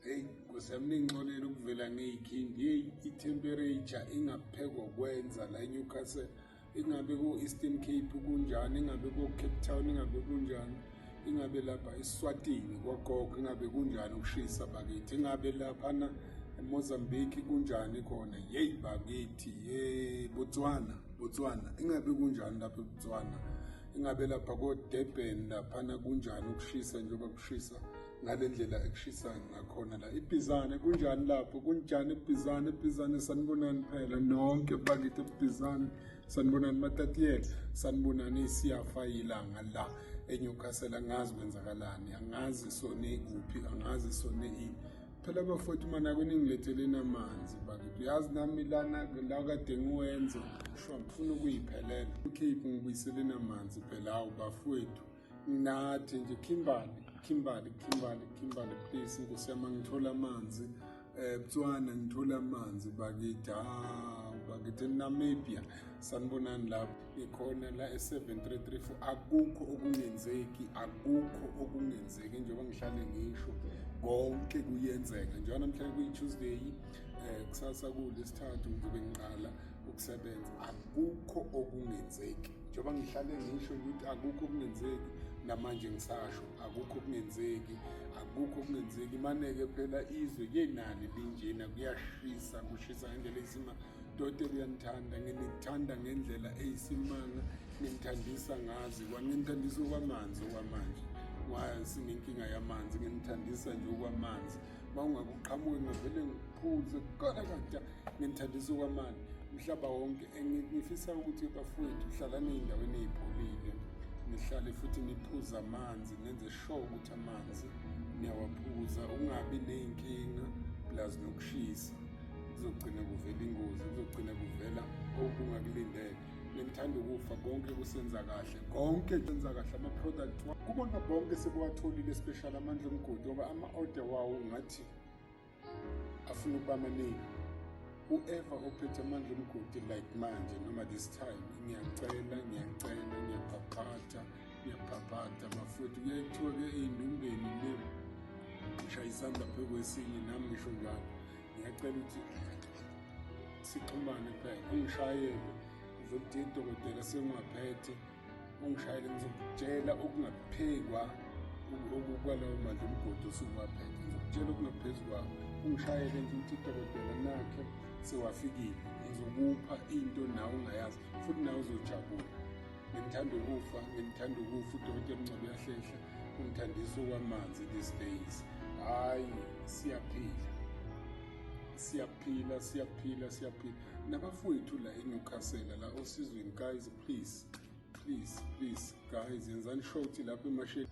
Hey Nkosi yami ningixolele ukuvela ngeyikhindi hey itemperature ingaphekwa kwenza la eNewcastle ingabe ko Eastern Cape kunjani ingabe ko Cape Town ingabe kunjani ingabe lapha eSwatini kwagogo ingabe kunjani ukushisa bakithi ingabe lapha na eMozambique kunjani khona hey bakithi hey Botswana Botswana ingabe kunjani lapha eBotswana ingabe lapha ko Durban lapha na kunjani ukushisa njengoba kushisa ngale ndlela ekushisayo ngakhona la ibhizane kunjani lapho kunjani ibhizane ibhizane sanibonani phela nonke bakithi ibhizane sanibonani matatiyela sanibonani siyafa yilanga la enyukasela angazi kwenzakalani angazi sone kuphi angazi sone ini phela bafowethu mana kuningiletheleni amanzi bakithi uyazi nami lana la kade ngiwenza sho ngifuna ukuyiphelela ukhiphi ngibuyiseleni amanzi phela awu bafowethu ngathi nje Kimberly Kimberly Kimberly Kimberly please nkosi yami ngithola amanzi eh Botswana ngithola amanzi bakithi ah bakithi Namibia sanibonani lapho ikhona la e7334 akukho okungenzeki akukho okungenzeki njengoba ngihlale ngisho konke kuyenzeka njengoba namhlanje kuyi-Tuesday eh kusasa kulesithathu ngizobe ngiqala ukusebenza akukho okungenzeki njengoba ngihlale ngisho ukuthi akukho okungenzeki namanje ngisasho akukho okungenzeki akukho okungenzeki imaneke phela izwe kenani linjena kuyashisa kushisa ngendlela isima dote uyanithanda nginithanda ngendlela eyisimanga nginithandisa ngazi kwanginithandisa okwamanzi okwamanje sinenkinga yamanzi nginithandisa nje okwamanzi uma ungakuqhamuki ngavele ngiphuze kukona kanja nginithandisa kwamani umhlaba wonke ngifisa ukuthi bafowethu hlalani ey'ndaweni ey'pholile nihlale futhi niphuze amanzi nenze sure ukuthi amanzi niyawaphuza ungabi ney'nkinga plus nokushisa kuzogcina kuvela ingozi kuzogcina kuvela okungakulindele bengithanda ukufa konke kusenza kahle konke senza kahle ama-product kubona bonke sekuwatholile special amandla omgodi ngoba ama-order wawo ngathi afuna ukuba maningi whoever ophethe amandla omgodi like manje noma this time ngiyacela ngiyacela ngiyabhabhatha ngiyabhabhatha mafuthi kuyaye kuthiwa-ke eyindumbeni le ngishayisanda phekwesini nami ngisho njalo ngiyacela ukuthi sixhumane phela ungishayele uzokudinga idokotela sengingaphethe ungishayele ngizokutshela okungaphekwa kwalawo mandla umgodi osuwaphethe ngizokutshela okungaphezu kwawo ungishayele nje ukuthi idokotela nakhe sewafikile ngizokupha into nawe ungayazi futhi nawe uzojabula ngimthanda ukufa ngimthanda ukufa udokotela mncwabe yahlehla umthandiso kwamanzi these days hayi siyaphila siyaphila siyaphila siyaphila nabafowethu la enyukasela la osizweni guys please please please guys yenzani sure ukuthi lapho emasheni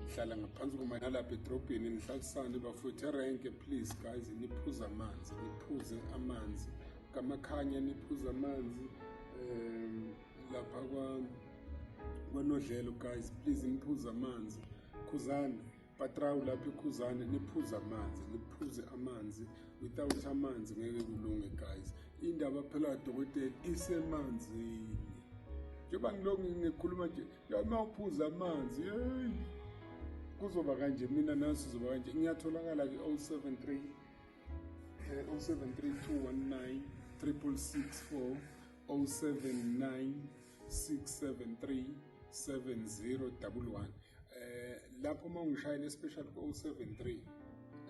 ngihlala ngaphansi komanalapha edrobheni nihlalisane bafowethu erenke please guys niphuze amanzi niphuze amanzi kamakhanya niphuze amanzi um lapha kwa kwanodlelo guys please niphuze amanzi khuzane patrawu lapha ikhuzane niphuze amanzi niphuze amanzi without amanzi ngeke kulunge guys indaba phela dokotela isemanzini njengoba ngilokhu ngikhuluma nje uma uphuza amanzi yeyi kuzoba kanje mina nasi zoba kanje ngiyatholakala kwi-073 073 219 364 079 673 7011 eh lapho uma ungishayela especial ko 73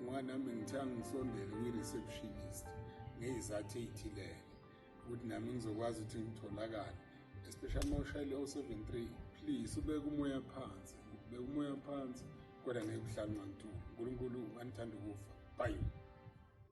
ngoba nami ngithe angisondele kwi-receptionist ngeyizathu ey'thilele ukuthi nami ngizokwazi ukuthi ngitholakale especially uma ushayele o-73 please ubeke umoya phansi ubeke umoya phansi kodwa ngeke uhlale ungangitholi unkulunkulu anithanda ukufa bayi